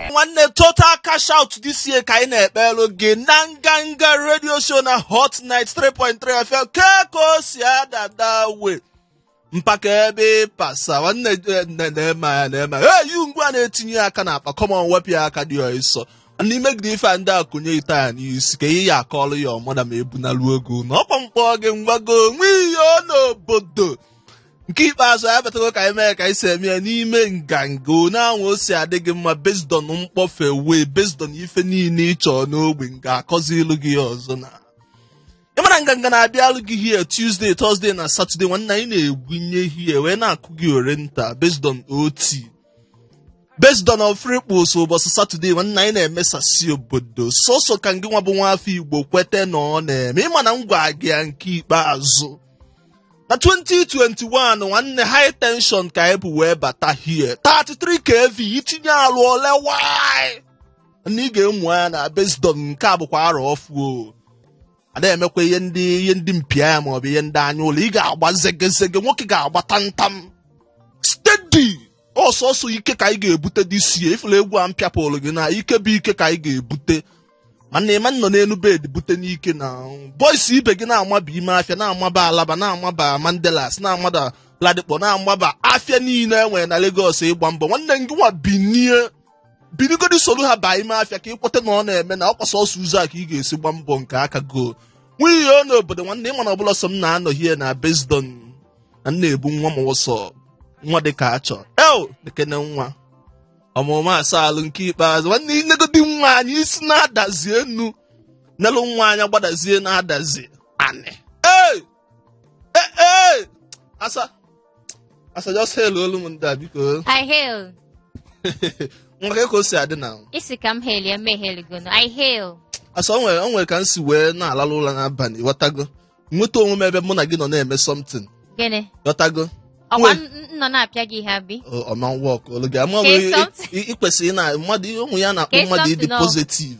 nwanne total cash out this year ka anyị na-ekpelụ gị na nganga radio show na Hot 93.3 FM kee ka o si adada we mpaka ebe ịpasa nwanne eh, nne na-eme ya na-eme ya eyi ngwa na-etinye aka n'akpa come on wepụ ya aka dị ọsọ n'ime gị ife a ndị a kụnye ite ya n'isi ka ihe ya akọlụ ya ọmụda ma ebunalu ego na ọkwa mkpọ gị ngwago nwe ihe ọ n'obodo nke ikpeazụ anyị batago ka anyị mee ka anyị si eme ya n'ime nganga one anwa o si adị gị mma based on mkpọfe wee based on ife niile ị chọọ n'ogbe m ga-akọzilụ gị ya ọzọ na ị mara nganga na-abịalụ gị here Tuesday Thursday na Saturday nwanne anyị na-egwunye here wee na-akụ gị ore nta based on OT based on ofri kposo ụbọchị Saturday nwanne anyị na-emesasị obodo sọsọ ka ngị nwa bụ nwa afọ Igbo kwete na ọ na-eme ị ma na m gwa gị ya nke ikpeazụ na 2021 nwanne high tension ka anyị bụ wee bata here 33 kv itinye alụ ole why na ị ga-emu anya na based on nke a bụkwa arọ ọfụụ o ada emekwa ihe ndị ihe ndị mpịa ya maọbụ ihe ndị anya ụla ị ga-agba zegezege nwoke ga-agba tantam steady ọsọsọ ike ka anyị ga-ebute this year ị fụla egwu a m pịapụrụ gị na ike bụ ike ka anyị ga-ebute mana ị ma nọ n'elu bed bute ike na boys ibe gị na-amaba ime afịa na-amaba Alaba na-amaba Mandilas na-amaba Ladipo na-amaba afịa niile e nwere na Lagos ịgba mbọ nwanne gị nwa binie binigodi soro ha baa ime afịa ka ị kweta na ọ na-eme na ọ kwa sọsọ ụzọ a ka ị ga-esi gba mbọ nke aka go nwunye ya n'obodo nwanne ị ma na ọ bụrọ sọ m na-anọ here na based on na m na-ebu nwa m ụsọ nwa dị ka a chọ eo nekene nwa ọmụmụ asa alụ nke ikpeazụ nwanne i negodi nwa anya i si n'Adazi Enu nelụ nwa anya gbadazie n'Adazi Anị ee Eh, eh! Asa, asa just hail olu m ndị a biko. I hail. Nwa kee ka o si adị na. Ị sị ka m hail ya megheligono. I hail. Asa o nwere o nwere ka m si wee na-alalụ ụra n'abalị ghọtago. Nweta onwe m ebe mụ na gị nọ na-eme something Gịnị? ghọtago. Ọkwa Nwere- m nọ na-apịa gị ihe abi? Ọ- Ọ ma work olu gị ama Kee wee something. ị- ị kwesịrị na mmadụ ụmụ ya na-akpọ Kee mmadụ ịdị something ọ- positive.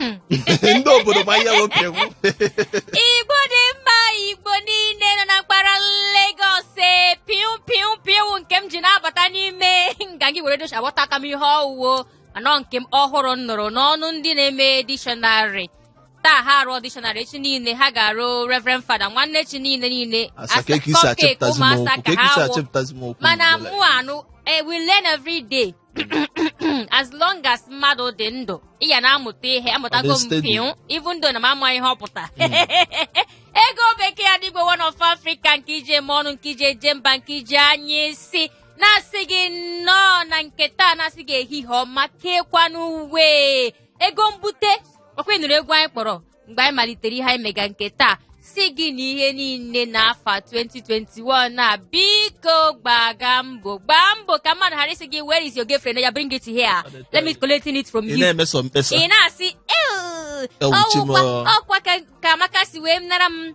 Hmm. ndị obodo ma ihe nwoke kwu Igbo dị mma Igbo niile nọ na mpaghara Lagos ee piu piu piu nke m ji na-abata n'ime nga gị were docha agbata aka m ihe ọwụwo anọ nke m ọhụrụ m nụrụ n'ọnụ ndị na-eme dictionary taa ha arụọ dictionary echi niile ha ga-arụ Reverend Father nwanne echi niile niile asa ka eke isi cupcake achepụtazi m ụmụ asa okwu ka ha wụ achepụtazi m okwu mana n'ụlọ. mụ anụ eh, we learn every day as long as mmadụ dị ndụ ị ya na-amụta ihe amụtago m steady. pịụ even though na m amaghị ihe ọ pụtara ego bekee adigwe one of africa nke iji eme ọnụ nke iji eje mba nke iji anya isi na-asị gị nnọọ na nke taa na-asị gị ehihie ọma keekwanụ uwe ego mbute ọkwa ị nụrụ egwu anyị kpọrọ mgbe anyị malitere ihe anyị mega nke taa sị gị na ihe niile n'afọ 2021 na biko gbaga mbọ gbaa mbọ ka mmadụ ghara ịsị gị where is your girlfriend ya bring it here let me collect it from you ị na-emeso mkpesa ị na-asị "Ew, Ewu, ọwụkwa Chimo." ọkwa ka- ka amaka si wee nara m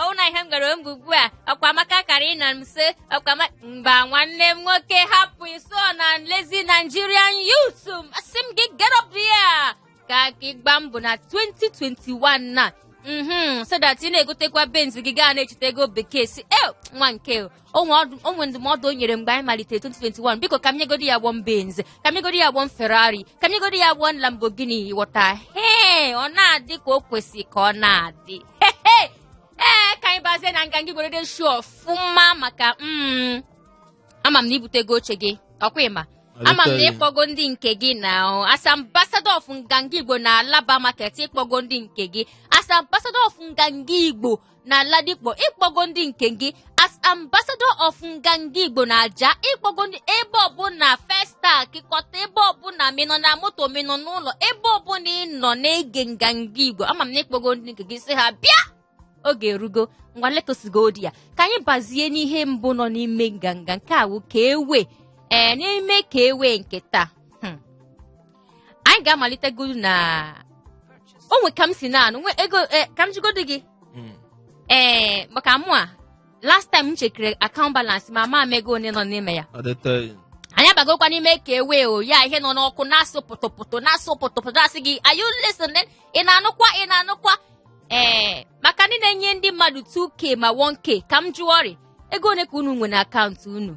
ọwụ na ihe m gbara mbọ ugbu a ọkwa amaka kara ịna m se ọkwa ama mba nwanne m nwoke hapụ iso na lazy Nigerian youth m asị m gị get up here ka gị gbaa mbọ na 2021 na mhm so that ị na-egotekwa benz gị gaa na-echeta ego bekee si e nwa nke o onwe ndụmọdụ o nyere mgbe anyị malitere 2021 biko ka m nyegodi ya gbọm Benz ka m nyegodi ya gbọm Ferrari ka m nyegodi ya gbọm Lamborghini ghọta hee ọ na-adị ka o kwesị ka ọ na-adị ee ka anyị bazie na nganga igbo radio show ọfụma maka mm, ama m na ibutego oche gị ọkwa ịma ama m na ịkpọgo ndị nke gị na as ambassador of nganga igbo na alaba market ịkpọgo ndị nke gị as ambassador of nganga igbo na Ladipo ịkpọgo ndị nke gị as ambassador of nganga Igbo na Ajah ịkpọgo ndị ebe ọbụla Festac Ikota ebe ọbụla ma ị nọ na moto ma ị nọ n'ụlọ ebe ọbụla ị nọ na-ege nganga Igbo ama m na ịkpọgo ndị nke gị sị ha bịa oge erugo ngwa let us go there ka anyị bazie n'ihe mbụ nọ n'ime nganga nke a wụ ka ewe ee n'ime ka ewe nke taa anyị ga-amalitegodu na onwe ka m si na-anụ nwe ego eh, ka m jigodo gị Mm. ee maka mụwa last time m chekere account balance ma ma m ego one nọ n'ime ya Ọ dịtọ ya. anyị abagokwa n'ime ka ewe oya ihe nọ n'ọkụ na-asụ pụtụpụtụ na-asụ pụtụpụtụ asị gị are you listening ị na-anụkwa ị na-anụkwa ee maka ndị na-enye ndị mmadụ 2k ma 1k ka m jụọ ọrị ego one ka unu nwe na account unu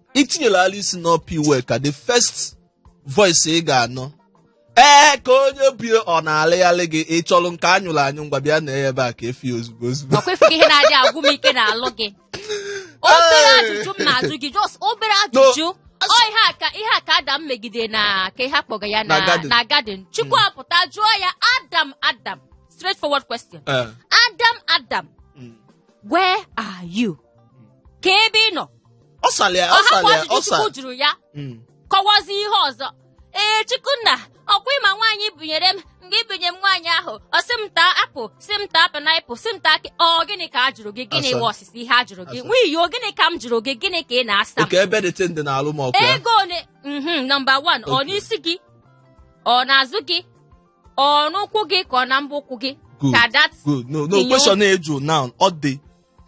itinyela ala isi n'Upper Iweka the first voice ị ga-anụ ee ka onye bie ọ na-alịghalị gị ị chọrọ nke anyụrụ anyụ ngwa bịa na ebe a ka efi ya ozugbo ozugbo ọkwa efu gị ihe na-adị agwụ m ike n'alụ gị obere ajụjụ m na-ajụ gị just obere ajụjụ ọ ihe a ka ihe a ka adam megide na ka ihe akpọga ya na Na garden. na garden chukwu apụta jụọ ya adam adam straight forward question Eh, adam adam mm. where are you ka ebe ị nọ ọ sara ya ọ ọ hapụ sara ya ajụjụ ọ sara chukwu jụrụ ya Mm. kọwazi ihe ọzọ ee chukwunna ọkwa ịma nwaanyị i bunyere m nga i bunyere m nwaanyị ahụ ọ sị m taa apụl sị m taa painaịpụl sị m taa akị ọ gịnị ka a jụrụ gị gịnị Asa. wụ ọsịsa ihe a jụrụ gị Asa. nwiyo gịnị ka m jụrụ gị gịnị ka ị na-asa m oke ebe dị tịndị na alụ m ọkụ ya ego ole mhm nọmba wan ọ Okay. n'isi gị ọ n'azụ gị ọ n'ụkwụ gị ka ọ na mbọ ụkwụ gị good ka dat good no no Inyo- question na-ajụ now ọ dị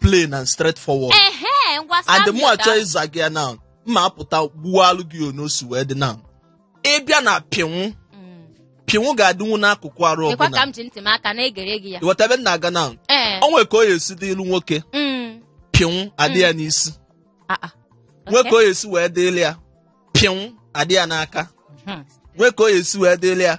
plain and straight forward ehe ngwa and Samuel mụ achọ ga- ịza gị ya na mma apụta gbuwalụ gị onu o si wee dị na ịbịa na pịnwụ Mm. pịnwụ ga-adịnwu n'akụkụ arụ Ịkwa ka ọbụla m ji ntị m aka na-egere gị ya ịghọta ebe m na-aga na ee o nwere ka o ya esi dịlụ nwoke Mm. pịnwụ adị ya n'isi Ah, ah. nwee Okay. ka o ya esi wee dịrị ya pịnwụ adị ya n'aka Hmm. nwee ka o ya esi wee dịrị ya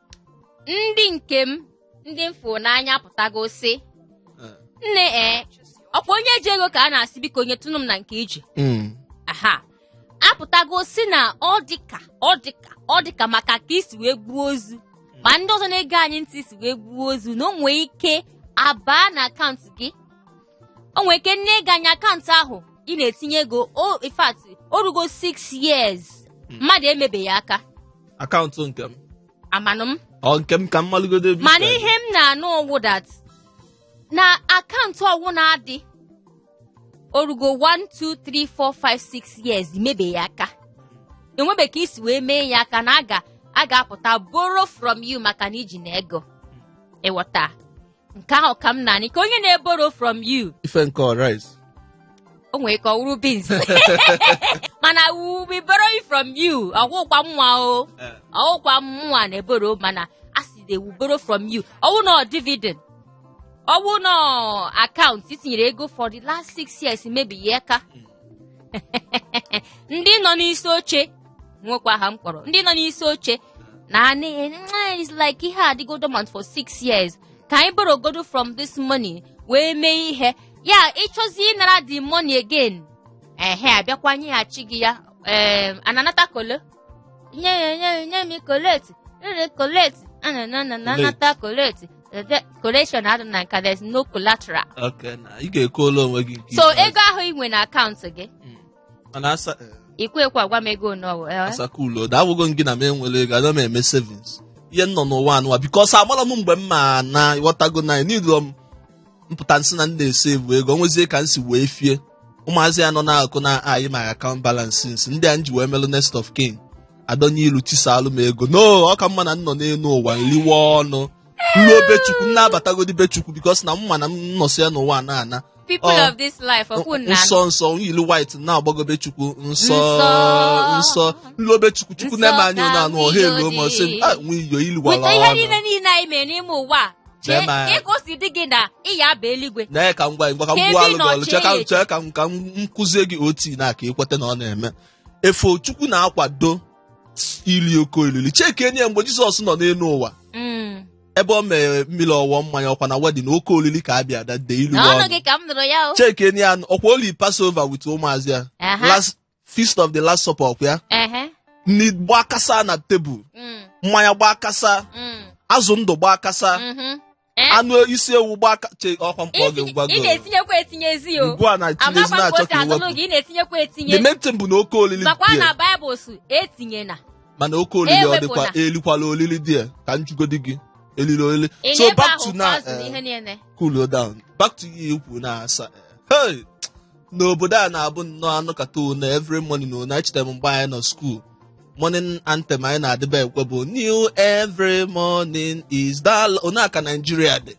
ndị nke m ndị m fụrụ n'anya pụtago sị Eh. nne ee ọkwa onye ji ego ka a na-asị biko onye tụnụ m na nke iji Mm. aha apụtago sị na ọ dịka ọ dịka ọ dịka maka ka i si wee gbuo ozu ma ndị ọzọ na-ege anyị ntị si wee gbuo ozu na o nwee ike abaa na akaụntụ gị o nwere ike nne ị gaa na akaụntụ ahụ ị na-etinye ego o in fact o rugo 6 years mmadụ emebeghị aka akaụntụ nke m amanụ m ọ nke m ka m malụgodo ebe mana isi ihe m na-anụ ọwụ that na akaụntụ ọwụ na-adị o rugo 1 2 3 4 5 6 years i mebeghị aka enwebe ka e si wee mee ya aka na aga a ga-apụta borrow from you maka na iji na ego ịghọta nke ahụ ka m na-anụ ka onye na-eboro from you ife nke rice o nwere ka ọ wụrụ beans mana we will be borrowing from you ọ wụkwa mwa o eh. ọ wụkwa mwa na-eboro mana a sị they will borrow from you ọwụ na dividend ọwụ na akaụntụ i tinyere ego for the last six years i mebe ya aka ndị nọ n'isi oche nwekwa aha m kpọrọ ndị nọ n'isi oche na it's like ihe adịgo dormant for six years ka anyị borogodo from this money wee mee ihe ya ịchọzi ịnara the money again ehe abịakwa nyeghachi gị ya ee a na-anata kolo nye ya nye ya nye m collateral koleti a na na na na Koleti. anata koleti Ede- collection adị na nka there's no collateral Okay, na ị ga-ekwuola onwe gị nke so ikpeazụ. ego ahụ ị nwe na akaụntụ gị Mm. Mana asa i kwe ekwe agwa m ego one ọ bụ, eh? asa cool down agwago m gị na m enwere ego ana m eme savings ihe m nọ n'ụwa a nụwa because amara m mgbe m ma ana ịghọtago na nidro m mpụta nsị na ndị na-esevu ego onwezie ka nsi wee fie ụmụazị ya nọ n'akụ na anyị ma akaụnt balansị nsị ndị a nji wee melụ next of kin adọnye ilu tisalụ m ego no ọ ka mma na nnọ n'elu ụwa nliwe ọnụ nluo be chukwu nnabatagodi be chukwu because na mma na m nọsị ya n'ụwa na ana people Ọ. of this life ọkwụ nna nsọ nsọ ilu white na-agbago be chukwu nsọ Nsọ. nsọ nluo be chukwu chukwu Nsọ na-eme anyị ka na anụ ọha elu ma sị m, nwiyo dị. "Ah, nwiyo iliwara weta ihe ọnụ niile niile anyị mere n'ime ụwa a, chee Lee ma- ka ka o si dị gị na ị ya aba eluigwe na ka m gwa gị ngwa ka m Ka gbuwalụ gị ọlụ chee ka chee. chee ka m ka m kụzie gị oti na ka ịkweta na ọ na-eme efo chukwu na-akwado ili oke olili cheke enye ya mgbe jizọs nọ n'elu ụwa Mm. ebe o mere mmili ọ wọọ mmanya ọkwa na wedding oke olili ka a bịa dade ilu na ọnụ ọnụ gị ka m nụrụ ya o cheke enye ya ọkwa oli Passover with ụmụazị ya Aha. Last- feast of the last supper ọkwa ya ehe nni gbaa kasa na tebụl mm, mmanya gbaa kasa mm, azụ ndụ gbaa kasa mhm. Eh, anụ isi ewu gbaa ka- che ọkwa mkpọ gị isi- gwa ị gị na-etinyekwa etinyezi o ugbu a na tinye ezi amakwa na-achọ mposi ka anụnụ iwepụ gị ị na-etinyekwa the etinye main thing bụ na oke olili makwa dị na ya. baịbụl sị etinyena mana oke olili ọ dịkwa Ewepụla. elikwala olili dị ya ka njugodi gị elili olili so ịnyebe back ahụ to now azụ na eh, ihe niile cool down back to you ikwu na asa eh, hey n'obodo a na-abụ nnọọ anụkata one every morning one echeta m mgbe anyị nọ skuul morning anthem anyị na-adịba ekwe bụ new every morning is the love ọ nya ka Nigeria dị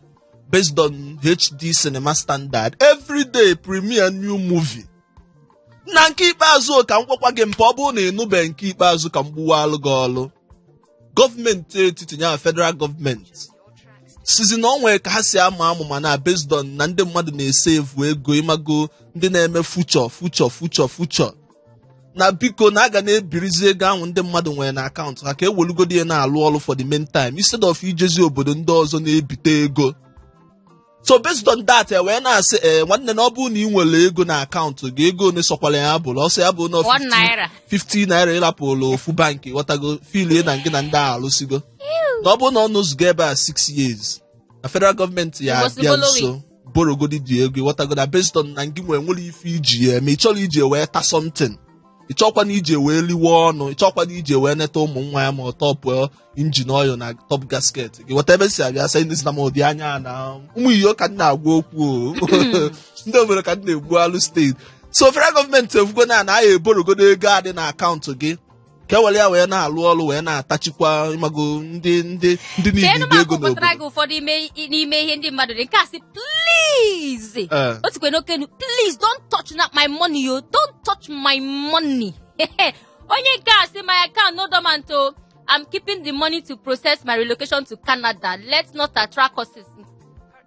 based on HD cinema standard every day premiere new movie na nke ikpeazụ ka m gwakwa gị mpa ọ bụrụ na ị nụbeghị nke ikpeazụ ka m gbuwalụ gị ọlụ gọọmenti etiti nya federal gọọmenti sizi na ọ nwere ka ha si ama amụma na based on na ndị mmadụ na-esevu ego ịmago ndị na-eme future future future future na biko na a ga na-ebirizi ego ahụ ndị mmadụ nwere na akaụntụ ha ka ewelugodi ya na-alụ ọlụ for the meantime instead of ijezi obodo ndị ọzọ na-ebite ego so based on that e wee na-asị ee nwanne na ọ bụrụ na ị nwere ego na akaụntụ gị ego one sọkwara ya bụrụ ọ sọ ya bụ na One naira. 50 naira ịrapụrụ ofu bankị ịghọtago filie na gị na ndị a alụsigo na ọ bụrụ na ọ nọzugo ebe a 6 years na federal gọọmenti ya You must abịa borrow nso borogodi dị ego ịghọtago na based on na gị nwere nwere ife iji ya eme ị chọrọ iji wee ta something ị chọkwa na iji wee liwe ọnụ ị chọkwa na iji wee neta ụmụ nwa ya ma ọ tọpụọ engine oil na top gasket gị weta ebe si abịa sa ndị si na m ụdị anya a na ụmụ iyo ka m na-agwa okwu o. ndị obodo ka m na-egbualụ steeti so federal gọọmenti efugo na na anyị eborogodo ego dị na akaụntụ gị ka e were ya wee na-alụ ọrụ wee na-atachikwa ịmago ndị ndị ndị niile cheenụ ma dị ego akpọpụtara n'obodo gị ụfọdụ ime- n'ime ihe ndị mmadụ dị nke a sị please Ee. o tikwe n'okenu please don't touch na my money yo don't touch my money onye nke a sị my account no dormant o I'm keeping the money to process my relocation to Canada. Let's not attract curses.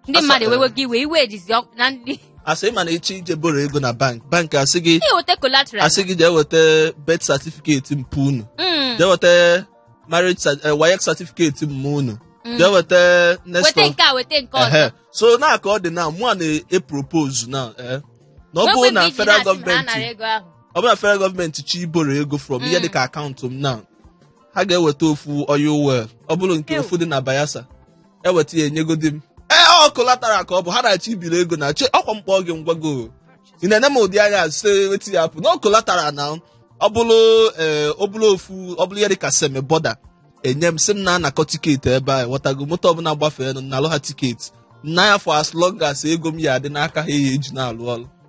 Ndị mmadụ ewewe gị iwe iwe ejizi ọkụ na ndị asị ma na ị chọ ije boro ego na bank bank asị gị jee weta collateral. asị gị jee weta birth certificate mpa unu Mm, jee weta marriage cer- eh, waec certificate mma unu jee weta next weta of nke a weta nke ọzọ. Ehe. so na ka ọ dị na mụwa na-epropose na eh, na ọ Wepụ bụrụ na ego iji federal na-asị na ha nara gọọmenti ego ahụ. ọ bụrụ na federal gọọmenti chọ iboro ego from ihe dịka akaụntụ m na ha ga-eweta ofu oil well ọ bụrụ nke Ew. ofu dị na Bayelsa eweta ya enyegodi m ee collateral ka ọ bụ ha na-achọ ibiri ego na che ọkwa mkpa gị ngwago ị na-ene m ụdị anya site weta ya pụ na collateral na ọ bụrụ ee ọ bụrụ ofu ọ bụrụ ya dị ka Seme border enye m sị m na-anakọ tiketi ebe a ghọtago moto ọbụla gbafeenụ nalụ ha tiketi na ya for as long as ego m ya adị n'aka ha ya eji na-alụ ọrụ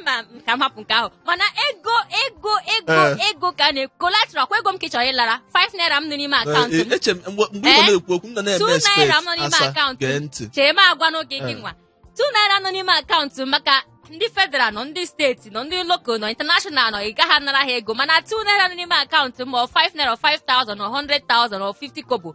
mba m ka m hapụ nke ahụ mana ego ego ego Eh. ego ka a na collateral kwa ego m ka ị chọrọ ịlara 5 naira m nọ n'ime akaụntụ m eche m mgbe mgbe ị Eh? nọ na-ekwu okwu m nọ na-eme 2 naira expect m nọ n'ime asa akaụntụ gee m ntị chee m agwa n'oge gị Eh. nwa 2 naira nọ n'ime akaụntụ m maka ndị federal nọ ndị steeti nọ ndị local nọ international nọ ị gaghị anara ha ego mana 2 naira nọ n'ime akaụntụ m ọ 5 naira ọ 5000 ọ 100000 ọ 50 kobo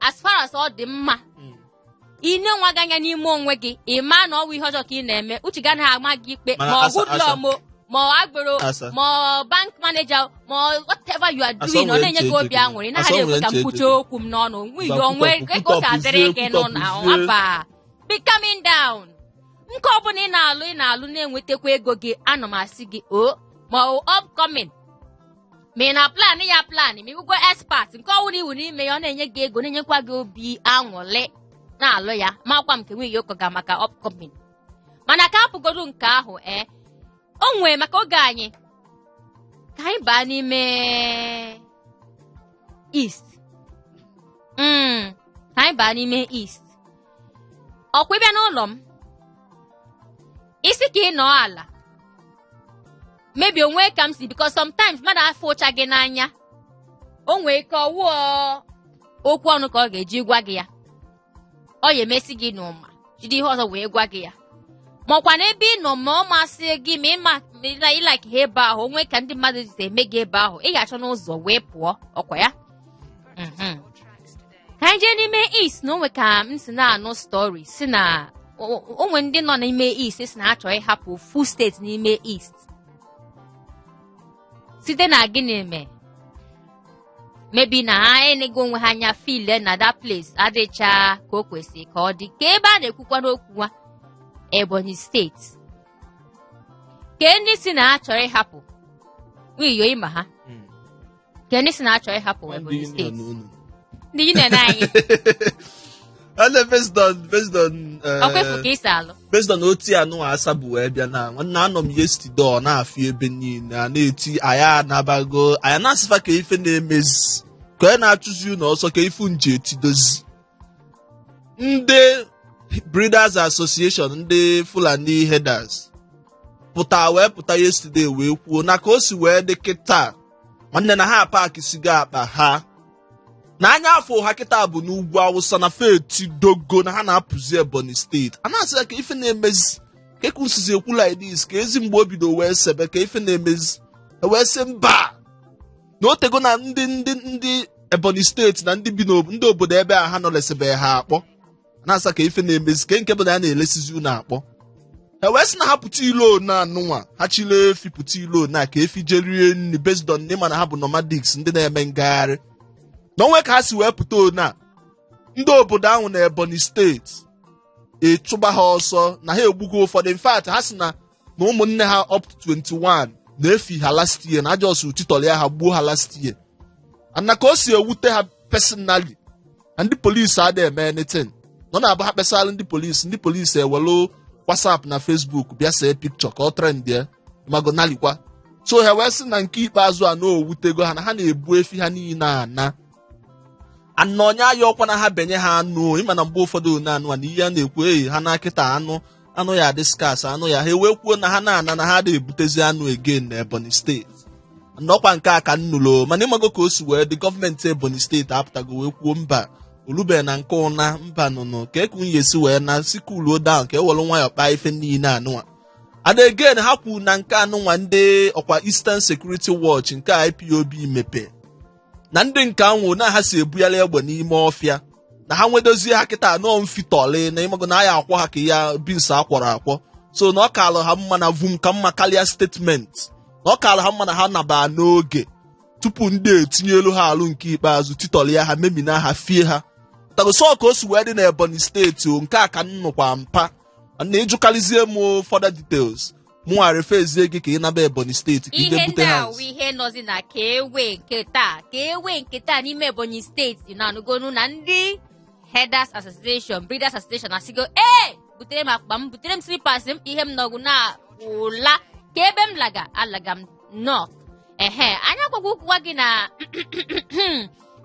as far as ọ dị mma mm. ị nee onwe gị anya n'ime onwe gị ị ma na ọ wụghị ihe ọjọọ ka ị na-eme uche gị anaghị ama gị ikpe ma ọ hoodlum ma ọ agboro ma ọ bank manager ma ọ whatever you are doing ọ na-enye gị obi aṅụrị ị naghị ekwe ka m kwuchie okwu m n'ọnụ nwe ihe o nwee ego ka adịrị gị nọ na nwaba be coming down nke ọ bụla ị na-alụ ị na-alụ na-enwetakwa ego gị ana m asị gị o oh, ma ọ upcoming ma ị na plan ya plan ma ịbụgo expert nke ọ wụrụ ị wụ n'ime ya ọ na-enye gị ego na-enyekwa gị obi aṅụrị na-alụ ya makwa m nke nwanyị a kọga maka upcoming mana ka ahapụgodu nke ahụ ee o nwee maka oge anyị ka anyị baa n'ime east mm ka anyị baa n'ime east ọkwa ị bịa n'ụlọ m ị sị ka ị nọ ala maybe o nwee ka m si because sometimes mmadụ afụcha gị n'anya o nwee ike ọ wụọ okwu ọnụ ka ọ ga-eji gwa gị ya ọ ya emesi gị n'ụma jide ihe ọzọ wee gwa gị ya makwa na ebe ị nọ ma ọ masị gị ma ịma na ịlike ha ebe ahụ o nwee ka ndị mmadụ si eme gị ebe ahụ ị ga-achọnụ ụzọ wee pụọ ọkwa ya mhm. ka anyị jee n'ime east na o nwee ka m si na-anụ story sị na o- o- o nwee ndị nọ n'ime east sị na ha chọrọ ịhapụ ofu steeti n'ime east site na gịnị mee maybe na ha enego onwe ha anya feel na that place adịcha ka o kwesịrị ka ọ dị kee ebe a na-ekwukwanụ okwu nwa Ebonyi steeti ka ndị sị na ha chọrọ ịhapụ nwiyo ịma ha ka ndị si na-achọ ịhapụ Ndị Ebonyi union steeti unu. ndị union anyị And then based on based on eh, ọkwa efu ka isi alụ based on otu ya nụ asa bụ wee bịa na nwanne anọ m yesterday ọ na-afị ebe niile a na-eti anyị anabago anyị na-asị fa kee ife na-emezi kee onye na-achụzi unu ọsọ kee ife unu ji etidozi ndị breeders association ndị fulani herders pụta wee pụta yesterday wee kwuo na ka o si wee dị kịta nwanne na ha paakisigo akpa ha na anya afọ ha kịta bụ n'ugwu awụsa na fa etidogo na ha na-apụzi ebonyi steeti a na-asị ha kee ife na-emezi kee ka unu sizi ekwu like this keezi mgbe o bido wee sebe kee ife na-emezi e wee sị mba na o tego na ndị ndị ndị ebonyi steeti na ndị bi n'obodo ebe a ha nọ lesebe ha akpọ na-asị ha kee ife na-emezi kee nke bụ na a na-elesizi unu akpọ ha wee sị na ha pụta ilo na anụnwa ha chịlị efi pụta ilo na ka efi jee rie nri based on na ị ma na ha bụ nomadics ndị na-eme ngagharị na o nwe ka ha si wee pụta ona ndị obodo ahụ na ebonyi steeti achụba ha ọsọ na ha egbugo ụfọdụ in fact ha si na na ụmụnne ha up to 21 na efi ha last year na a just titọlịa ha gbuo ha last year and na ka o si ewute ha personally na ndị polisi adịghị eme anything na ọ na-abụ ha kpesara ndị polisi ndị polisi ewelu whatsapp na facebook bịa see picture ka ọ trend ya magonalikwa so ha wee sị na nke ikpeazụ a na o wutego ha na ha na-ebu efi ha niile ana anụ onye aya ọkwa na ha benye ha anụ ịma na mgbe ụfọdụ na anụ a na ihe a na-ekwu eyi ha na kịta anụ anụ ya-adị scarce anụ ya ha e wee kwuo na ha na-ana na ha adịghị ebutezi anụ again na ebonyi steeti na ọkwa nke a ka m nụrụ mana ịmago ka o si wee dị gọọmenti ebonyi steeti apụtago wee kwuo mba o lube na nke ụna mba nụnụ ka eku nwunye si wee na sị kuluo down ka e were nwayọọ kpaa ife niile anụnwa and again ha kwuru na nke anụnwa ndị ọkwa eastern security watch nke ipob mepe na ndị nke anwụ na ha si ebugharị egbe n'ime ọfịa na ha nwedozie ha kịta anọ mfitọlị na ịmago na a ya-akwọ ha ka ya beans a kwọrọ akwọ so na ọ kaala ha mma na vum ka mma karịa statement na ọ kaala ha mma na ha naba n'oge tupu ndị etinyelụ ha alụ nke ikpeazụ titọlịa ha memina ha fie ha tagoso ka o si wee dị na ebonyi steeti ọ nke a ka m nụkwa mpa na ị jụkarịzie m further details mụnwa referzie gị ka ị naba ebonyi steeti ka ị je ihe ndị bute ha a wụ ihe nọzi na ka ewe nke taa ka ewe nke taa n'ime ebonyi steeti na anụgonu na ndị herders association breeders association asịgo ee butere m akpa m butere m slippers m ihe m nọgụ na ụla kee ebe m laga alaga m north ehe anya gwagwa ụkwụwa gị na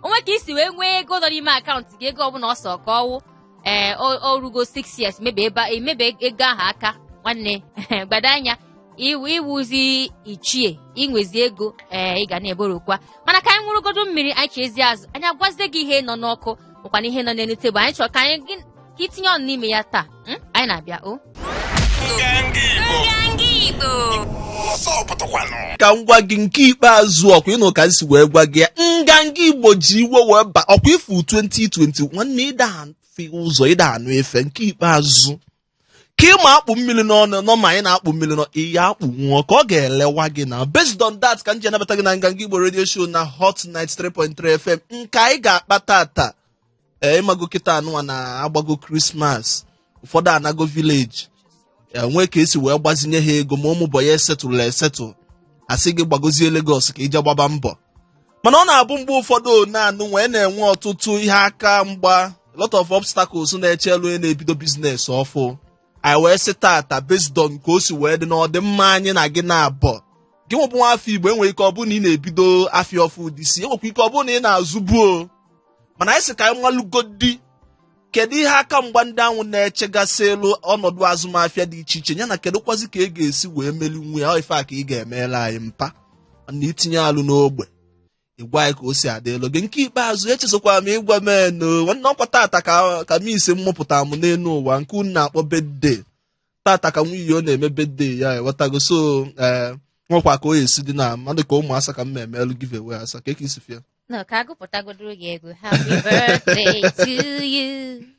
o nwee ka i si wee nwee ego nọ n'ime akaụntụ gị ego ọbụla ọsọ ka ọ wụ ee o rugo 6 years mebe ebe a- emebe ego ahụ aka nwanne gbado anya iwu ị wụzi ichie i nwezi ego ee ị ga na-eborokwa mana ka anyị nwụrụgodo mmiri anyị chezie azụ anyị agwazie gị ihe nọ n'ọkụ makwana ihe nọ n'elu tebụl anyị chọrọ ka anyị gị- ka itinye ọnụ n'ime ya taa Hmm? Anyị na-abịa o. ka m gwa gị nke ikpeazụ ọ kwa ị nụ ka m si wee gwa gị ya nganga igbo ji iwe wee ba ọ kwa ị fụ 2020 nwanne ị da afụ ụzọ ị da anụ ife nke ikpeazụ ka ị ma akpụ mmili n'ọnụ nọ ma anyị na-akpụ mmili nọ ihe akpụ nwụọ ka ọ ga-elewa gị na based on that ka m ji anabata gị na nganga igbo radio show na hot 93.3 fm nke anyị ga-akpa tata ee ị mago kịta a nụwa na agbago krismas ụfọdụ anago vileji e nwee ka e si wee gbazinye ha ego ma ụmụ bọyị a esetụla esetụl a sị gị gbagozie Lagos ka ị je gbaba mbọ mana ọ na-abụ mgbe ụfọdụ na-anụ wee na-enwe ọtụtụ ihe aka mgba lot of obstacles na-eche iru onye na-ebido biznes ọfụụ anyị wee sị tata based on ka o si wee dị na ọdịmma anyị na gị naabọ gịnwa bụ nwa afọ igbo enwere ike ọ bụrụ na ị na-ebido afịa ọfụụ this year enwekwa ike ọ bụrụ na ị na-azụbu mana anyị sị ka anyị malụgodi kedu ihe aka mgba ndị ahụ na-echegasị iru ọnọdụ azụmafịa dị iche iche yana kedụkwazi ka ị ga-esi wee melinwu ya ọ ife a ka ị ga-emela anyị mpa na itinye alo n'ogbe ịgwa anyị ka o si adịlụ gị nke ikpeazụ echezọkwara m ịgwa m eno nwanne ọ kwa tata ka ka m isi mụpụta m n'elu ụwa nke unu na-akpọ birthday tata ka nwunye ọ na-eme birthday ya ewetago so ee nwekwa ka o si dị na mmadụ ka ụmụ asa ka m ma emelụ giveaway asa ka eke isi fịa No, ka agụpụtagodoro gị egwu. Happy birthday to you.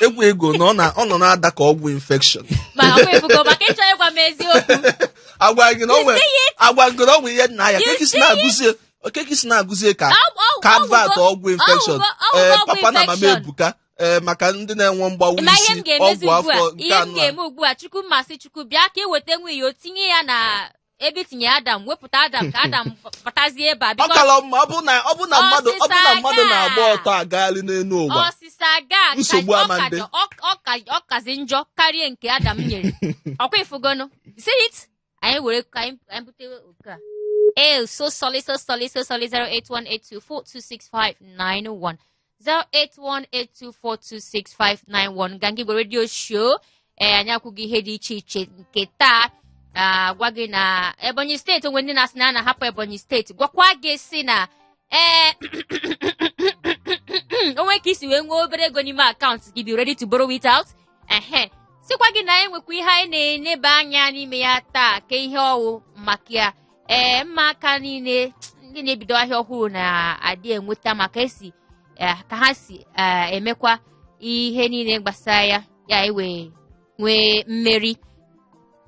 egwu ị gụ na ọ na- ọ nọ na-ada ka ọgwụ infection ma ọ efugo maka ị chọọ ịgwa m eziokwu agwa gị na ọ nwere agwa gị na ọ nwere ihe nna ya kee ka i si na-agụzie kee ka i si na-agụzie ka Ọ- ọ- ka ọ advert gwụgo- ọgwụ infection ọ gwụgo- ọ ee gwụgo ọgwụ papa na mama infection. ebuka ee maka ndị na-enwe mgbawa ma ihe isi m ga-emezi ọgwụ ugbu a afọ nke ihe m anọ a. ga-eme ugbu a chukwu mmasị chukwu bịa ka eweta nwunye ya o tinye ya na ebe e tinye adam wepụta adam ka adam pụtazie ebe a ọ bikos kala mma ọ bụ na ọ bụ na mmadụ ọ bụ na mmadụ Ọsịsa na-agba gaa. ọtọ agagharị n'elu ụwa ọsịsa ga ka- Nsogbu ọ ama ka- ndị. ọ- ọ ka- ọ kazi njọ karịa nke adam nyere ọ kwa ị fụgonu see it anyị were ka anyị anyị bute oku a ee so solid so solid so solid 08182426591 08182426591 nganga igbo radio show ee anyị ekwugo ihe dị iche iche nke taa agwa gị na ebonyi steeti o nwe ndị na-asị na ha na-ahapụ ebonyi steeti gwakwa gị sị na ee o nwee ka i si wee nwee obere ego n'ime akaụntụ gị be ready to borrow it out ehe sịkwa gị na enwekwa ihe anyị na-eneba anya n'ime ya taa ka ihe ọ wụ maka ya ee ịma aka niile ndị na-ebido ahịa ọhụrụ na-adị enweta maka esi eh, ka ha si eh, emekwa ihe niile gbasara ya ya ewee nwee mmeri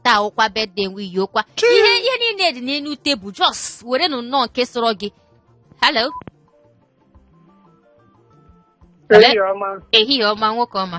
taa wụkwa birthday nwe iyi ụkwa ihe ihe niile dị n'elu tebụl just were nụ nnọọ nke sọrọ gị hello Ehihie ọma. ehihie ọma nwoke ọma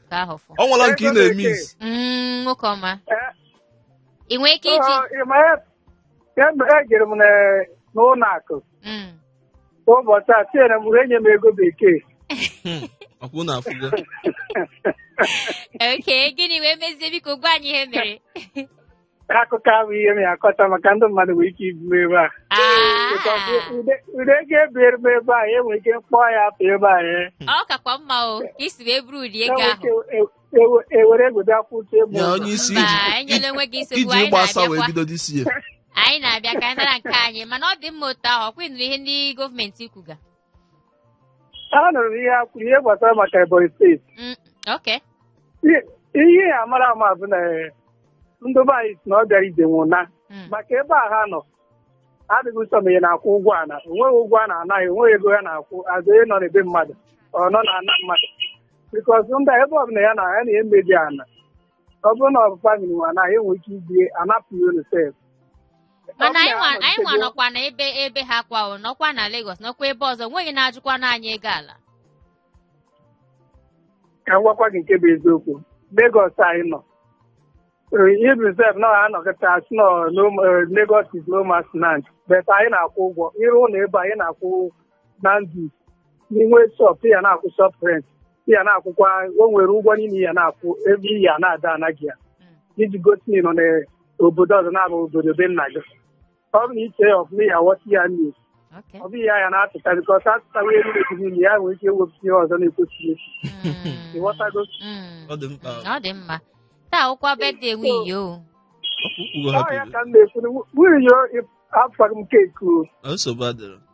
ka ahụ fụ ọ nwere nke ị na-eme isi Mm, nwoke ọma Eh, ị nwee ike iji ọ, ị ma ya kemgbe ejere m na- n'ụlọ akụ Mm. ụbọchị a tinyere m enye m ego bekee ọkwa unu afụgo okay gịnị wee mezie biko gwa anyị ihe mere akụkọ abụ ihe m ya akọta maka ndị mmadụ nwere ike ibu ebe a ụdị ego ebiere m ebe a enwere ike m kpọọ ya afa ebe a ya ọ kakwa mma o ka isi wee buru ụdị ego ahụ ewere egwede akwụsị ebe ya onye isi mba iji- enyela onwe gị nsogbu iji anyị ịgbasa wee na-abịakwa bido dị isi ya anyị na-abịa ka anyị nara nke anyị mana ọ dị mma otu ahụ ọkwa ị nụrụ ihe ndị gọọmenti kwuga anụrụ m ihe a kwuru ihe gbasara maka Ebonyi steeti Mm, okay. I- ihe a mara ama bụ na eh, ndị be anyị si na ọ bịara ije nwe ụna Mm. maka ebe a ha nọ adịghị ụsọ ma ị na-akwụ ụgwọ ana onweghị ụgwọ a na-ana gị onweghị ego ya na-akwụ azụ onye nọ n'ebe mmadụ ọ nọ na ana mmadụ because ndị a ebe ọbụla ya na ya na-emebi ana ọ bụrụ na ọ bụ famili nwe ana enwe ike ibie anapụ ya olu sef mana anyị nwa- anyị nwa nọkwa na ebe ebe ha kwa o nọkwa na Lagos nọkwa ebe ọzọ nweghị na-ajụkwanụ anyị ego ala ka m gwakwa gị nke bụ eziokwu Lagos anyị nọ even sef na ha anọkata sị na no- eh, Lagos is no man's land but anyị na-akwụ ụgwọ ịrụ ụlọ ebe anyị na-akwụ na ndụ n'inwe shọp ya na-akwụ shọp rent ya na-akwụkwa o nwere ụgwọ niile ya na-akwụ every year na-ada ana gị ya iji gosi na ị nọ n'obodo ọzọ na-abụ obodo be nna gị ọ bụ na i che ya ọfụma ya ghọta ya nne Okay. ọ bụghị ya ya na-atụta because atụtawa elu na-ebu niile ya nwere ike iwepụta ihe ọzọ na-ekwesịghị Mm. ịghọtago Mm. ọ dị mkpa Ọ dị mma. Taa wụkwa birthday nwe iyo. okpukpu ọ ya hapụrụ ka m na-ekwu na nwunye afọ m keku nsogbu adịrọ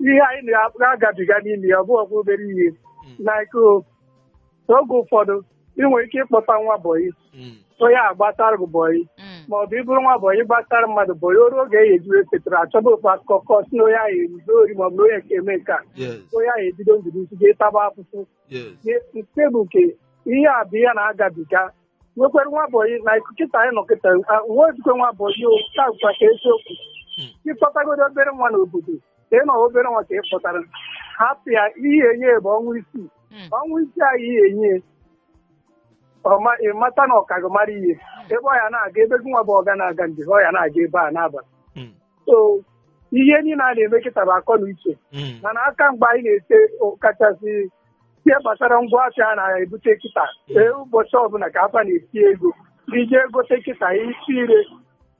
ihe anyị na-agabiga n'ime ya ọ bụghịkwa obere ihe like o, oge ụfọdụ ị nwere ike ịkpọta nwa bọyị Mm. onye agbatara gị bọyị Mm. ma ọ bụ ị bụrụ nwa bọyị gbatara mmadụ bọyị o ruo oge ya ejiri settle ya achọba ofu akụkọ kọ si na onye ahụ ezuo ori ma ọ bụ na onye nke eme nke a Yes. onye ahụ ebido ndụ n'isi ga-ataba afụfụ Yes. nke bụ nke ihe a bụ ihe na-agabiga nwekwere nwa bọyị na kịta anyị nọ kịta nwa ojikwe nwa bọyị ka a gwa gị eziokwu ị kpọtagodu obere nwa n'obodo ka ị nọ obere nwa ka ị kpọtara hapụ ya ihe enye ya bụ ọnwa isii Mm. ọnwa isii anyị ihe enye ya ọma- ị mata na ọ ka gị mara ihe ebe ọ ya na-aga ebe gị nwa bụ ọga na-aga na ọ ya na-aga ebe a na-aba Mm. so ihe niile a na-eme kịta bụ akọ na uche Mm. mana akamgba anyị na-ete o- kachasị ihe gbasara ngwa afịa a na-ebute kịta ee ụbọchị ọbụla ka afịa na-eti ego i ji egote kịta isi ire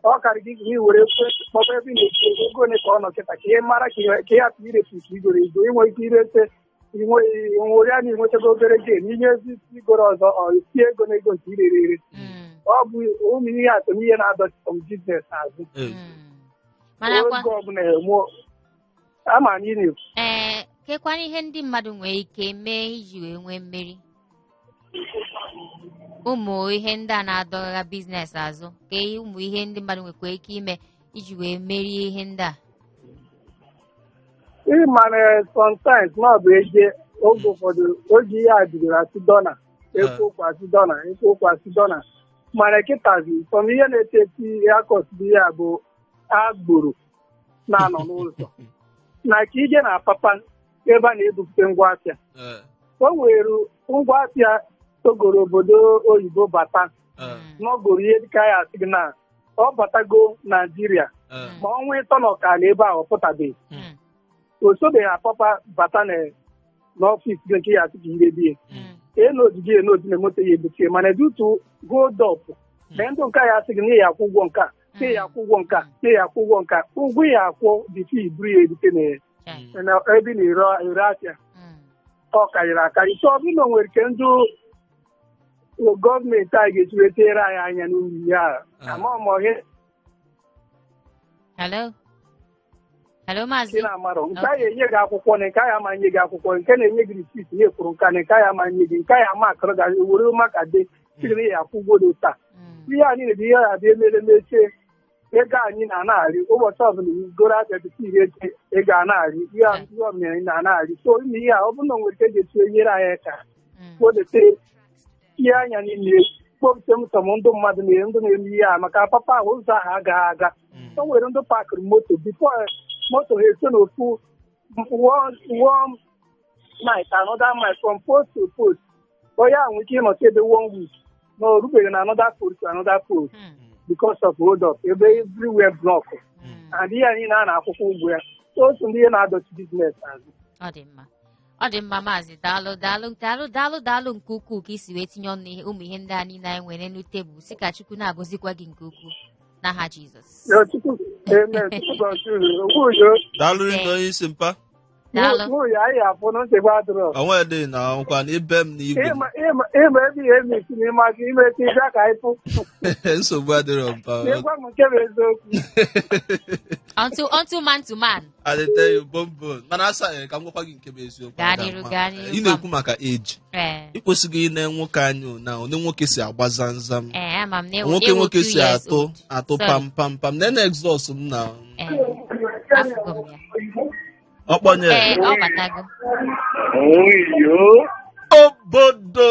ọ karị gị gị were ekwe kpọba ebe ị na-eti ego ego ole ka ọ nọ kịta ka ị mara ka ihe- ka ị hapụ irefu ka i goro ego i nwe ike irete nwere ya na i nwetago obere gain i jezie isi igoro ọzọ ọ tie ego na ego nke irere ere Mm, ọ bụ ụmụ ihe a so n'ihe na-adọchi sọm biznes azụ mm. marakwa oge ọbụla enwe ama anyị na ee kekwanụ ihe ndị mmadụ nwere ike mee iji wee nwee mmeri ụmụ ihe ndị a na-adọgha biznes azụ ka ụmụ ihe ndị mmadụ nwekwa ike ime iji wee merie ihe ndị a ị mara sometimes na ọ bụ eje oge ụfọdụ oge ihe a jiri a sị dọla e kwuo okwu a sị dọla e kwuo okwu a sị dọla mana kịtazi sọm ihe na-esozi akọsị ya bụ agboro na-anọ n'ụzọ na ka i je na Apapa ebe a na-ebupụta ngwa afịa Eh, o nwere ngwa afịa i goro obodo oyibo bata eh, n'ọgoro ihe dịka ha asị gị na ọ batago Naijiria eh. ma ọnwa ịtọ na ọkara ebe ahụ ọ pụtabeghị Mm. o sibeghị Apapa bata na- n'ọfịs gị nke ya asị gị rebe Mm. e lodi gị e lodi na moto ya ebuchie mana due to hold up na ndị nke a ya asị gị na ị ya-akwụ ụgwọ nke a na ị ya-akwụ ụgwọ nke a na ị ya-akwụ ụgwọ nke a ụgwọ ị ya-akwụ bifo i buru ya erute na ya Chai. na ebe ị na-ere ere afịa Mm. ọ karịrị akarị so ọ bụrụ na o nwere ka ndị gọọmenti anyị ga-esi wee tinyere anyị anya n'ụdị ihe a. ama m ọhịa Hello? Hello, nke Maazị. na-amarọ nke Okay. a ya-enye gị akwụkwọ na nke a ya ama nye gị akwụkwọ nke na-enye gị risit n'ihe ị kwụrụ nke a na nke a ya ama nye gị nke a ya ama akọrọ gị were maka dị siri na ị ya-akwụ ụgwọ dị taa Mm. ihe a niile bụ ihe a dị emere mechie ego anyị na-anagharị ụbọchị ọbụla i goro abịa bite ihe eche ego a na-arị ihe a- ihe ọmịrị na-anagharị so ime ihe a ọ bụrụ na o nwere ka a ga-esi nyere anyị aka Mm. kpodete ihe anya niile kpọpụta sọm ndị mmadụ na ndị na-eme ihe a maka Apapa ahụ ụzọ ahụ agaghị aga o nwere ndị pakịrị moto bifo moto ha esi n'ofu wọm nit anọda mil from post to post onye ahụ nwere ike ịnọta ebe one week na o rubeghị na anọda post to anọda post because of hold up ebe everywhere block and ihe a niile a na-akwụkwa ụgwọ ya so o so n'ụdị ihe na-adọchi biznes azụ ọ dị mma ọ dị mma maazị daalụ daalụ daalụ daalụ daalụ nke ukwuu ka i si wee tinye ọnụ ihe ụmụ ihe ndị a niile anyị nwere n'elu tebụl sị ka Chukwu na-agọzikwa gị nke ukwuu n'aha Jizọs Ya Chukwu, amen. Chukwu gọzie unu. Okwu udo. daalụ rinne Ee. onye isi mpa daalụ Mụ ya anyị afụ na nsogbu adịrọ. onwe dị na nkwa na ibe m na igwe m. Ịma ịma ịma ebe ihe emi si n'ime aka ime ka ịbịa ka anyị fụ. nsogbu adịrọ mpa N'ịgwa m nke bụ eziokwu. until until man to man I dey tell you bombon mana sir eh, ka m gwakwa gị nke bụ eziokwu Gaa Ada, n'iru, ma- gaa n'iru, ị na-ekwu maka age ee ị kwesịghị ine nwoke anya na onye nwoke si agba zamzam ee ama m na ewu nwoke ewu nwoke two si years atụ old. atụ Sorry. pam pam pam na na exhaust m na Ee, afụgo m ya. ọkpọnye ee ọ batago Oyo. obodo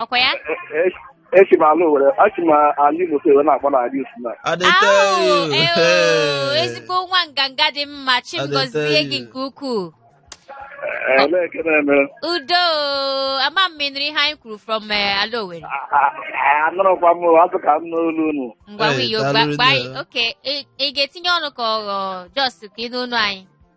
ọkwa ya esi m ala owere achị m ala igbo so wee na-akpọ na ala isi na I dey tell Au, you. eo, Hey. ezigbo nwa nganga dị mma chi m I dey gọzie tell gị you. nke ukwuu elee nke na-eme udo ama m ma ị nụrụ ihe anyị kwuru from eh, ala owere anụrụkwa m asị ka m nụ olu unu ngwa Hey, Wiyo daalụ gba rinne. anyị okay ị ị ga-etinye ọnụ ka ọ wụ just ka ị nụ olu anyị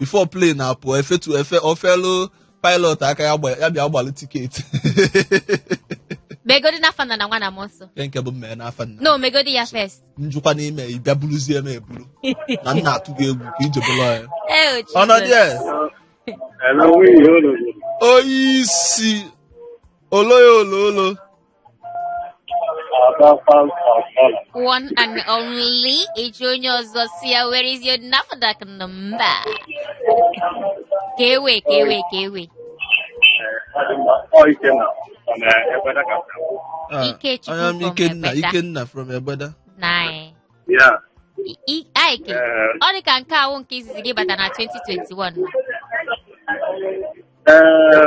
before plane na-apụ efetu efe ofelu pilot aka ya gba- ya bịa gbalụ tiketi megodi n'afa nna na nwa na mmụọ nsọ nke nke bụ mmee n'afa nna no megodi ya first njụkwa n'ime ị bịa buruzie m eburu na nna atụ gị egwu ka ije bụrụ ya Eh, oh, ọnọdụ Jesus. ya Hello, we hold on. onye isi oloya oloolo One and only eji onye ọzọ sị ya where is your NAFDAC number? Kee way kee way kee way. Ah, Ikechukwu I am from Ikenna, Egbeda. Ikenna from Egbeda. Nine. Yeah. I- I- Iyke, Eh, ọ dị ka nke a wụ nke izizi gị bata na 2021. eh,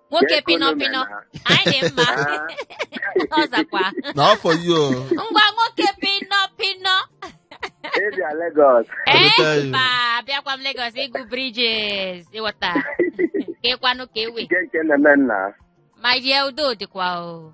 nwoke Jee pịnọ kunu pịnọ mena. anyị dị mma Ah. ọ zakwa na afọ yi o ngwa nwoke pịnọ pịnọ Ị bịa Lagos. Eleta ya. mba abịakwa m Lagos ịgụ bridges ị ghọta kee kwanụ kee way Nke nke na-eme nna. my dear udo dịkwa o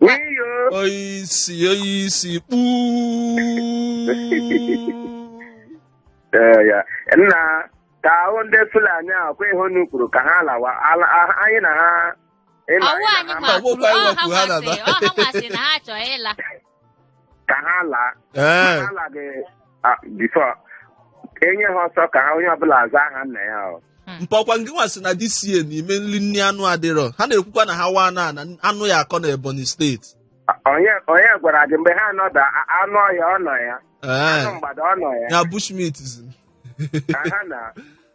Wiyo. Oyisi, oyisi, kpuu. Ee, ya. Nna ka ahụ ndị Fulani a ọkwa ihe unu kwuru ka ha lawa ala- a- anyị na ha ịnọ Ọ wụ anyị anyị na ha nwa ma- kwuru, Ọgwụkwa ọ ha ịwakwu ha masị, na-aba. ọ ha nwa sị na ha chọọ ịla. ka ha laa ee ha laghị ah, before e nye ha ọsọ ka ha onye ọbụla aza aha nna ya ọ mpa ọkwa ngị nwa sị na this year n'ime nri nri anụ adịrọ ha na-ekwukwa na ha nwa naa na anụ ya akọ na Ebonyi steeti onye onye gwara gị mgbe ha nọda a- anụ ọhịa ọ nọ ya ee anụ mgbada ọ nọ ya ya bushmeat zi ha na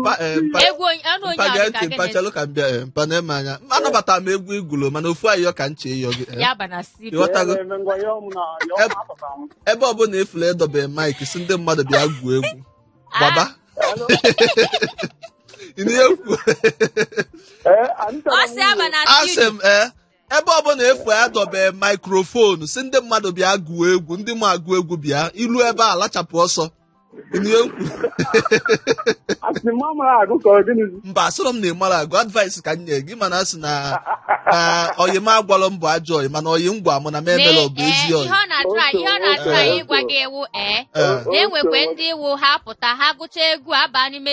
Mpa, eh, mpa, egwu onye- anụ onye mpa ahụ gee dị ka ntị, mpa gịnị? chelụ ka m bịa eh, mpa na eme anya anabata m egwu ị gụlụ mana ofu ayọ ka m chọ ịyọ gị eh. ya ba na studio ị ghọtago ebe ọbụla ị fụlụ edobe maik sị ndị mmadụ bịa gụọ egwu gbaba Ị na-ekwu? ọ sị ya ba na asị studio m ee ebe ọbụla ị fụ edobe maikrofonu sị ndị mmadụ bịa gụọ egwu ndị ma agụ egwu bịa i lu ebe a lachapụ ọsọ Ihe m kwuru. ị sị m amarọ agụ ka ọ gịnị mba asịrọ m na ị marọ agụ advice ka m nye gị mana asị na ọyị m agwalọ m bụ ajọ ọyị mana ọyị m gwa mụ na m emela Mee, ọ bụ ee, ezi ọyị ọ na-atụrụ anyị ihe ọ na-atụrụ anyị ịgwa gị egwu ee Ee. na-enwekwe ndị iwu ha pụta ha gụcha egwu aba n'ime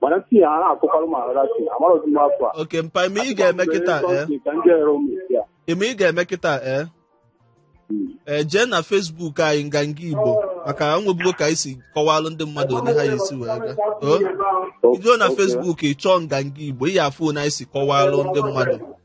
mana si ya ha akụkwara m ahara si amarọzi m afọ a okay mpa ị ma ihe ị ga-eme kịta ee ka ndị ere ụmụ isi a ị ma ihe ị ga-eme kịta ee ee jee na Facebook anyị nganga Igbo maka na e nwebugo ka anyị si kọwalụ ndị mmadụ onye ha ya esi wee gaa o i jee na Facebook ị chọọ nganga Igbo ị ya afụ na anyị si kọwalụ ndị mmadụ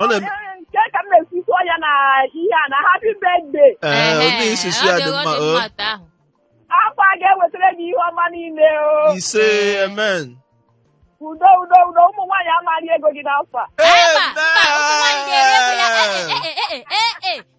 Ọ na- nke ka m na-esusu ya na ihe a na happy birthday Ee, onye isusu ya dị mma. o. afọ a ga-ewetara gị ihe ọma niile o Ise, amen. udo udo udo ụmụ nwaanyị ama eri ego gị n'afọ a Amen.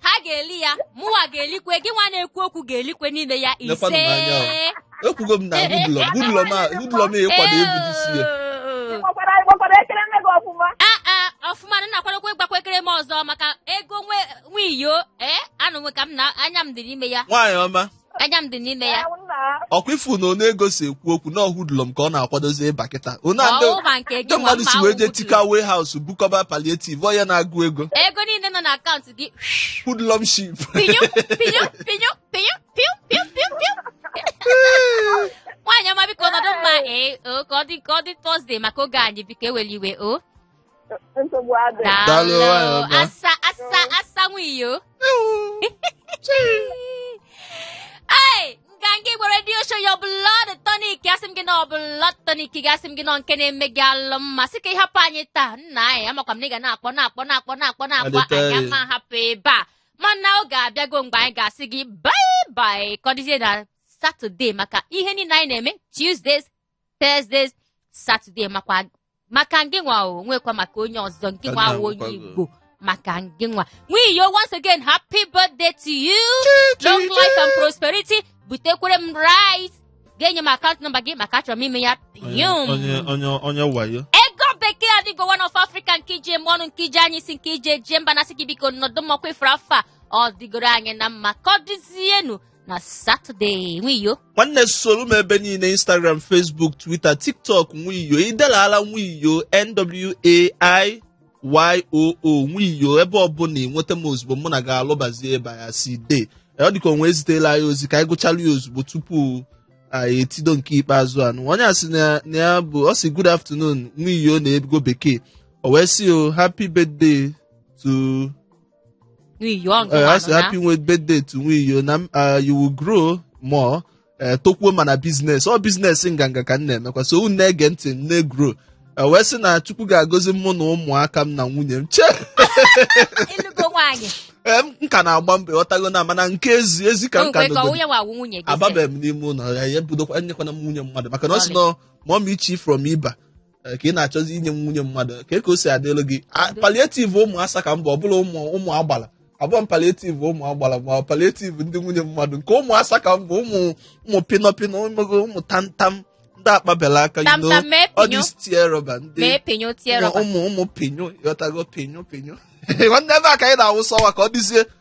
ha ga-eli ya mụwa ga-elikwe gị nwa na-ekwu okwu ga-elikwe n'ime ya Lekwanụ m anya o. ise ekwugo m na hoodlum hoodlum hoodlum ịkwado egwu n'isi ya Ee. Ị gbakwara ị gbakwara ekeresimesi ọfụma. Ah, ah, ọfụma na-akwadokwa ịgbakwa ekeresimesi ọzọ maka ego nwe nwiyo ee anụ nwe ka m na anya m dị n'ime ya nwaanyị ọma Anya m dị n'ime ya. Ee, nna ọkwa ị fụ na ọnụ ego si ekwu okwu na ọ hoodlum ka ọ na-akwadozi ịba kịta onu a ndị- Ọwụwa nke gị ndị mmadụ si wee jee tika warehouse bukọba palliative onye na-agụ ego Ego niile nọ n'akaụntụ gị. hoodlumship Pinyo, pinyo, pinyo, pinyo, piu, piu, piu, piu. Nwaanyị ọma biko nọdụ mma ee o ka ọ dị ka ọ dị Thursday maka oge anyị biko ewela iwe o. nsogbu adị Daalụ, nwanyị ọma. asa asa asa nwiyo ei Nganga Igbo radio show your blood tonic asị m gị na ọ blood tonic gị asị m gị na nke na-eme gị alụ mma sị ka ị hapụ anyị taa nna anyị amakwa m na ị ga na-akpọ na-akpọ na-akpọ na-akpọ na-akpọ Adịta anyị ya. ama hapụ ebe a mana oge abịago mgbe anyị ga-asị gị bye bye ka ọ dịzie na Saturday maka ihe niile anyị na-eme Tuesdays Thursday Saturday makwa maka ngị nwa o nwekwa maka onye ọzọ ngị nwa Ada awụ onye agwụkwago. Igbo maka ngị nwa nwiyo once again happy birthday to you long life and prosperity butekwere m rice ga-enye m akaụntụ nọmba gị maka achọrọ m ime ya pium onye onye onye wayo Ego Bekee adịgo one of Africa nke ije eme ọnụ nke ije anyị si nke ije jee mba na sị gị biko nọdụ mma ọkwa ị fụrụ afọ a ọ dịgoro anyị na mma ka ọ dịzienu na satọde nwiyo nwanne soro m ebe niile instagram facebook twitter tiktok nwiyo idelara nwiyo nwaiyoo nwiyo ebe ọbụla ị nweta m ozugbo mụ na gị alụbazie ebe ya si dee ọ dịka onwe ezitela anyị ozi ka anyị gụchalụ ya ozugbo tupu anyị etido nke ikpeazụ anụ onye a sị na ya bụ ọ sị good afternoon nwiyo na ego bekee o wee sị o happy birthday to nwiyo nke Eh, a sị nwanụ ya happy with birthday to nwiyo na m, ah, you will grow more eh, tokwuo mana business ọ business nganga ka m na-emekwa so unu na-ege ntị m na-egrow Eh, wee sị na chukwu ga-agọzi mụ na ụmụaka m na nwunye m chee ịlụgo nwaanyị Eh, m m ka na-agba mbọ ịghọtago na mana nke ezi ezi ka m ka nkwekọ nọgoro onye nwawu nwunye gị sị. ababeghị m n'ime ụlọ ya ya ebudokwa enyekwana m nwunye mmadụ maka na ọ sị na mọm ichi from iba eh, ka ị na-achọzi inye m nwunye mmadụ ka ka o si adịlụ gị A- palliative ụmụ asa ka m bụ ọ bụrọ ụmụ ụmụ agbala abụrọ m palliative ụmụ agbala ma palliative ndị nwunye mmadụ nke ụmụ asa ka m bụ ụmụ ụmụ pịnọ pịnọ ụmụ tamtam ndị akpaberọ aka you know, all these tear rubber ndị ụmụ pinyo ịghọtago pinyo pinyo nwanne ebe a ka anyị na-awụsa ọwa ka ọ dịzie